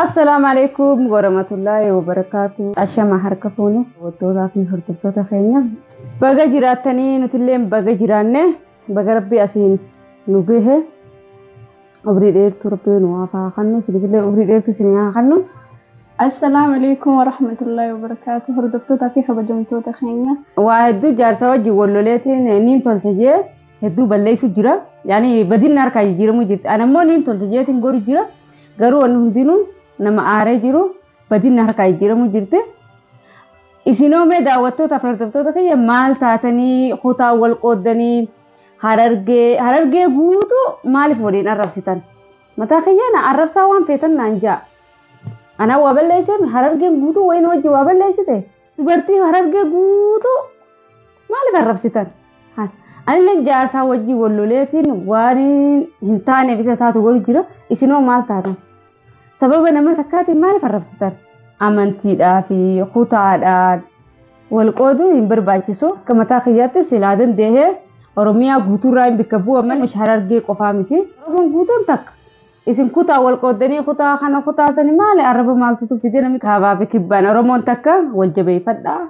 Assalaamu alaikum warahmatullaahi wabarakaatu. Ashama harka fuune hawwattootaa fi hordoftoota keenya. Baga jiraattanii nutillee baga jiraanne baga rabbi asiin nu gahe. Umrii dheertuu rabbii nu hafaa kannu isiniifillee umrii dheertuu isinii haa kannu. Assalaamu alaikum warahmatullahi wabarakaatu hordoftootaa fi kabajamtoota keenya. Waa hedduu jaarsa wajjin wal loleetiin niin tolcha jee hedduu balleessu jira. Yaani badinni harkaa jijjiiramuu jirti. Ana immoo niin tolcha jeetiin goru jira. Garuu wanni hundinuu nama aaree jiru badinni harkaa jijjiiramuu jirti. Isinoo mee daawwattoota fi hordoftoota kiyya maal taatanii kutaa wal qooddanii Harargee harargee guutuu maaliif waliin arrabsitan? Mataa kiyyaa na arrabsaa waan feetan naan ja'a. Anaa waa balleesseemi harargeen guutuu wayii na wajji waa balleessite? Dubartii harargee guutuu maaliif arrabsitan? Anilleen jaarsaa wajjin wal loleetiin waan hin taaneef isa taatu godhu jira. Isinoo maal taatan? Sababa nama takkaatiin maaliif arrabsitan? Amantiidhaa fi kutaadhaan wal qooduu hin barbaachisu. Akka mataa kiyyaatti silaa danda'ee Oromiyaa guutuurraa hin bakka bu'a malee Harargee qofaa miti. Oromoon guutuun takka. Isin kutaa wal qooddanii kutaa kana kutaa sani maali arraba maaltutu fide namni kaabaa fi kibbaan Oromoon takka wal jabeeffadhaa.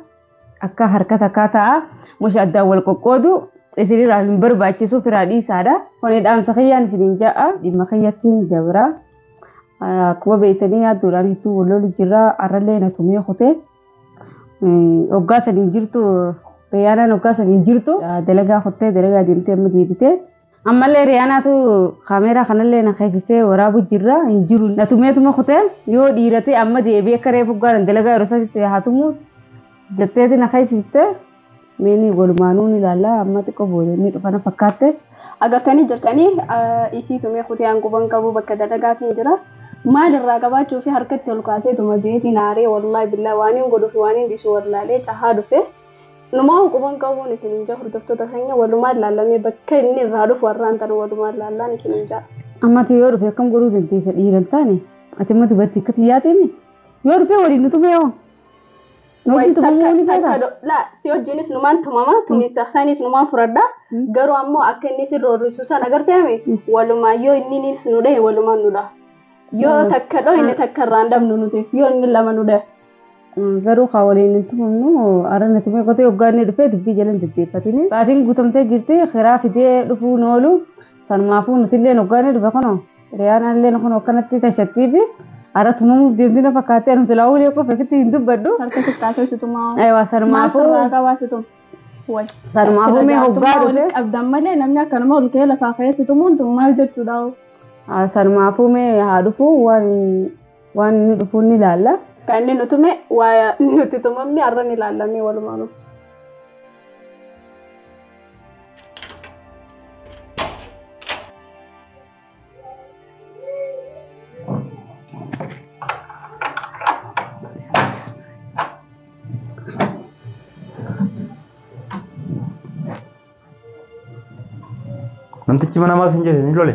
Akka harka takkaa ta'a. Musha addaan wal qoqqoodu isinirraa hin barbaachisu firaa dhiisaadha. Kuni dhaamsa kiyyaan isiniin ja'a dhimma kiyyattiin dabra. Akkuma beektanii yaaddoodhaan hedduu wal lolu jirra. Har'allee na tumee kutee. Hoggaa saniin jirtu Rayyaanaan hoggaa saniin jirtu dalagaa kuttee dalagaa deemtee amma deebitee. Ammallee Riyaanaatu kaameeraa kanallee na keessisee waraabu jirra hin jiru. Na tumeetuma kutee yoo dhiiratee amma deebi'ee akka reefu gaaran dalagaa yeroo isaatti haa tumu jetteeti na keessiste meeni walumaanuu ni ilaalla amma xiqqoo booda ni dhufana fakkaatte. Agartanii jirtanii isii tumee kutee hanquban qabu bakka dalagaatiin jira. Maal irraa qabaachuu fi harkatti ol kaasee tuma jeetiin aaree wallaahi billaa waan hin godhuu fi waan hin dhiisu wallaalee cahaa dhufe. Numaa'u quban qabuun isin hin ja'a hordoftoota keenya walumaan laallamee bakka inni irraa dhufu har'aan tana walumaan laallaan isin hin ja'a. Amma ati yoo dhufe akkam godhuu dandeessa dhiira hin taane ati amma dubarti akka xiyyaatee mi yoo dhufee waliin nu tumee hoo nu wajjin tumamuu ni feetaa Laa si wajjinis numaan tumama tumiinsa isaaniis numaan furadha garuu ammoo akka inni isin roorrisu san agarteemi walumaan yoo inni niils nu dhahe walumaan nu dhaha. Yoo takka dhoo inni takka irraa hin dhabnu nutis yoo inni lama nu dhahe. garuu kaa waliin hin tumamnu arra na tumee kotee hoggaa inni dhufee dubbii jalan deddeeffatini baatiin guutamtee jirti kiraa fidee dhufuu hin oolu sanumaafuu nutillee hoggaa inni dhufe kunoo hiriyaan allee kun akkanatti tashattii fi arra tumamuuf deemtii na fakkaattee nuti laa ulee qofa ofitti hin dubbadhu Harka sittaasee situmaa. Ewa Maal sanumaafuu sirraa qabaa situma? Wal. sanumaafuu mee hoggaa dhufe waliin qabdan malee namni akkanuma ol ka'ee lafaa ka'ee situmuun tun maal jechuudha? sanumaafuu mee haa dhufu waan Waan inni dhufuun ni laalla. Kan inni nu tume waa nuti tumamne har'a ni laallamee walumaanuu. Namtichi mana maal sin jedhe ni lole.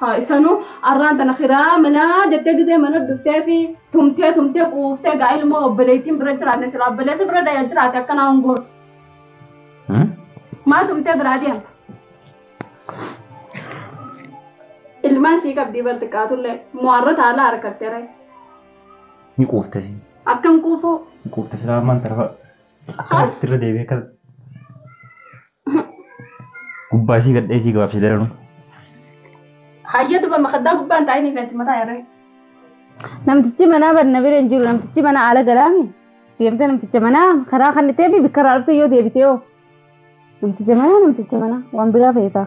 Haa isanuu arraan tana kiraa manaa jettee gisee mana dhuftee fi tumtee tumtee quuftee gaa ilmoo obboleettiin bira jiraanne silaa obboleessa bira daya jiraate akkanaa hungoon. Maa tumtee biraa deemta? Ilmaan sii qabdii bar xiqqaatullee mo'arra taalaa harkatteere. Ni quufte si. Akkam quufuu? Ni quufte silaa ammaan tana fa'a. Akkana irra deebi'ee kan. Gubbaa isii gadhee isii gabaabsee daranuu. Hayyee duba makaddaa gubbaan taa'inii fi achi mataa yarree. Namtichi manaa bar na bira hin jiru namtichi mana ala galaami deemtee namticha manaa karaa kan itee fi bikkaraa dhuftee yoo deebitee hoo namticha manaa namticha manaa waan biraa feetaa.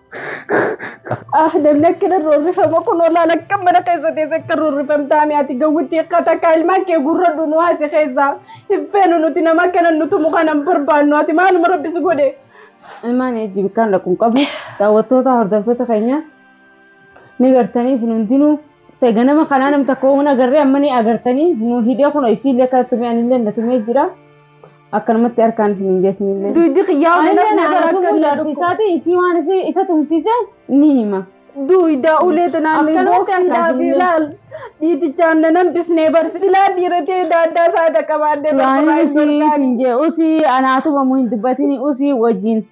Ah, namni akka nan roorrifama kun olaa lakka mana keessa teesse akka roorrifamtaa mi ati gawwitti akka takka ilmaan kee gurradhu nu haase keessa hin feenu nuti nama akka nan nutumu kana hin barbaannu ati maaluma rabbi si godhe. Ilmaan eejji bikkaan dhaqu hin qabne daawwattoota hordoftoota keenya ni gartanii isin hundinuu Dhufe ganama kanaa nam takka hin agarree amma ni agartanii nu hidhee kun isiillee akka tumee anillee na tumee jira akkanumatti harkaan isin hin geessinillee. Duydi kiyyaa Anillee ulee na gara tumuu akkamiin jaartii isaatii isii waan isii isa tumsiise ni hima. Duyda ulee tanaan ni Akkanumatti booksan harkaan daafi isin hin ilaal. Dhiitichaan na nambisnee barsi ilaa dhiiratee daaddaa isaa dhaqabaadhee Yaani usii siin jee usii anaa tumamu hin dubbatini usii wajjin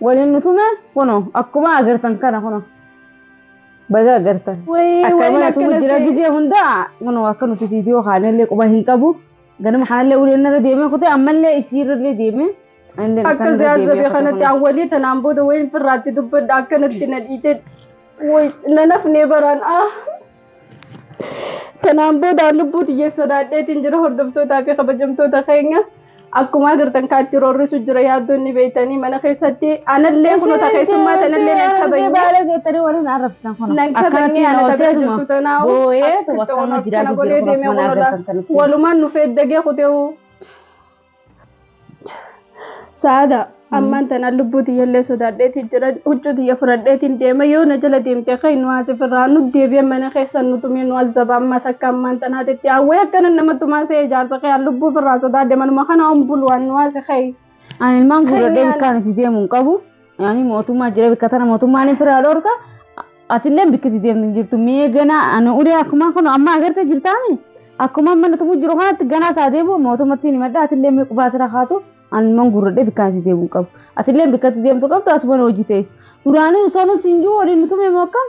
Waliin nu tume kuno akkuma agartan kana kuno baga agartan Wayii akkama wayii natu akkana jira si. gizee hunda kuno akka nuti viidiyoo kaanellee quba hin qabu ganama kanallee uleen narra deemee kutee ammallee isiirrallee deemee anillee Akka kanarra siyaasa deemee bee kutee kanatti kuno. awwalii tanaan booda wayiin firraatti dubbadha akkanatti na dhiitee. Woy na nafnee baraan ah. Kanaan booda lubbuu tiyyeef sodaadheetiin jira hordoftootaa fi kabajamtoota keenya akkuma agartan kaatti roorrisu jira yaaddoon ni beektanii mana keessatti anallee kunota keessummaa tanallee nan kabanye. Baala jettanii warri na arrabsitan kun. Nan kabanye ana tagaa jirtu tanaa Boo'ee akkatti waan akkana godhee deemee kun ola walumaan nu feeddagee kuteewu Saada ammaan tanaan lubbuu tiyyallee sodaadheetii jiran huccuu tiyya fudhadheetiin deema yoo na jala deemte ka'e nu haasif irraa nu deebi'e mana keessa nu tumee nu azzaba ammas akka ammaan tanaatitti hawwee akkana nama tumaa se'ee jaarsa ka'e lubbuu irraa sodaadhe manuma kana ombuluwaan nu haasi ka'e. Ani ilmaan guurradhee bikkaan itti deemu hin qabu. Ani mootummaa jira bikka tana mootummaan hin firaa dhorka. Atillee bikka deemtu hin jirtu. Mee ganaa ani ulee akkuma kun amma agartee jirtaami. Akkuma amma nutumuu jiru kanatti ganaa isaa deemu mootummatti hin himadha. Atillee mee qubaa asirra kaatu ani man gurradhee bikka ati deemu hin qabu. Atillee bikka ati deemtu qabdu asuma hojii ta'es. Duraanii osoo nuti hin jiru waliin nutumee moo akkam?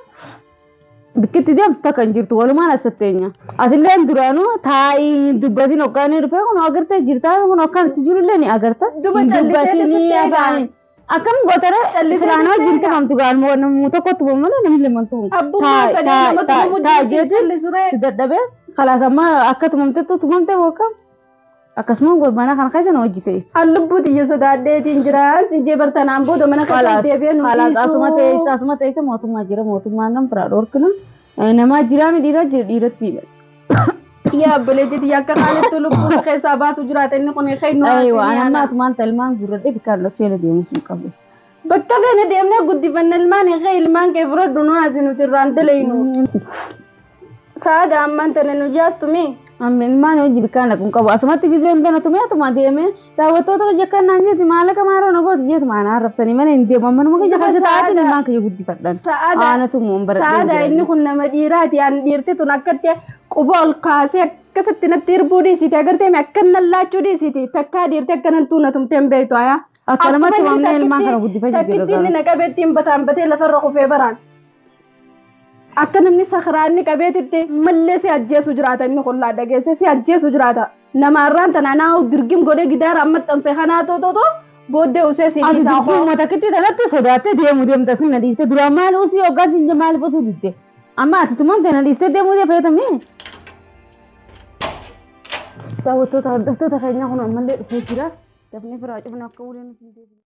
Bikkitti deemtu takka hin jirtu walumaan asatteenya. Atillee duraanuu taa'ii dubbatiin hoggaanii dhufee kun agartee jirtaa kun akkan itti jirullee ni agarta. Duba callisee Dubbatiin ni keessatti eegaa. afaanii. Akkam gootara Callisee siraan wajjin callisee tumamtu gaaluma wanamuu tokkotti bu'u malee namni lama tumu. Abbummaa Taa- fedhee taa- nama taa- tumamuu taa jechuun jechuun callisuree. si dadhabee kalaas amma akka tumamtettu tumamte booka akkasuma mana kana keessa na hojii ta'e. An lubbuu tiyya sodaadheetiin jira. Si jee bartanaan booda mana keessa Kalaas deebi'ee nu kalaas asuma ta'e dhiisuu. asuma ta'e mootummaa jira mootummaan kan biraa dhorkina namaa jiraami dhiira jira dhiiratti Yaa obboleettii tiyya akka kaanittuu lubbuu si keessaa baasu jiraata inni kun keenyu Aywa ani amma asumaan talmaan guurradhee bikkaan dhoksee deemus hin qabu. Bakka feene deemnee guddifanna ilmaan kee ilmaan kee fudhadhu nu haasi nuti irraan dalaynu. Sa'aadaa ammaan tana nu jaastume. Amma ilmaan hojii bikkaan dhaqu hin qabu asumatti bibeen tana tumee atuma deemee Daawwattoota kiyya kan naan jeeti maallaqa maaroo na gooti jeeti maana arrabsanii malee hin deeman manuma kiyya kan ta'aati ilmaan kiyya guddifadhan. Aanatu immoo hin baradhee Sa'aadaa inni kun nama dhiiraati an dhiirti tun akkatti quba ol kaasee akkasitti natti hirbuu dhiisiti agartee mi akkan nallaachuu dhiisiti takkaa dhiirti akkanan tuuna tumtee hin beektu ayaa. Akkanumatti Akkuma inni waamnee ilmaan takkitti- kana guddifachuu jira Takkitti inni na qabeetti hin bataan batee lafarra kufee baraan. Akka namni sakaraanni qabeetitti mallee si ajjeesu jiraata inni kun laa dhageesse si ajjeesu jiraata. Nama arraan tanaa naa dirgim godhee gidaara amma xanse kanaa too too too booddee usee si dhiisaa koo. Ati dirgim mata kitti tanatti sodaattee deemu deemta sin na dhiiste duraa maal usii hoggaan sin jee maaliif usuu didde amma ati tumamte na dhiiste deemuu dee feetamee. Daawwattoota hordoftoota keenyaa kun ammallee dhufee jira. Dafnee firaa cufna akka waliin hin deebiin.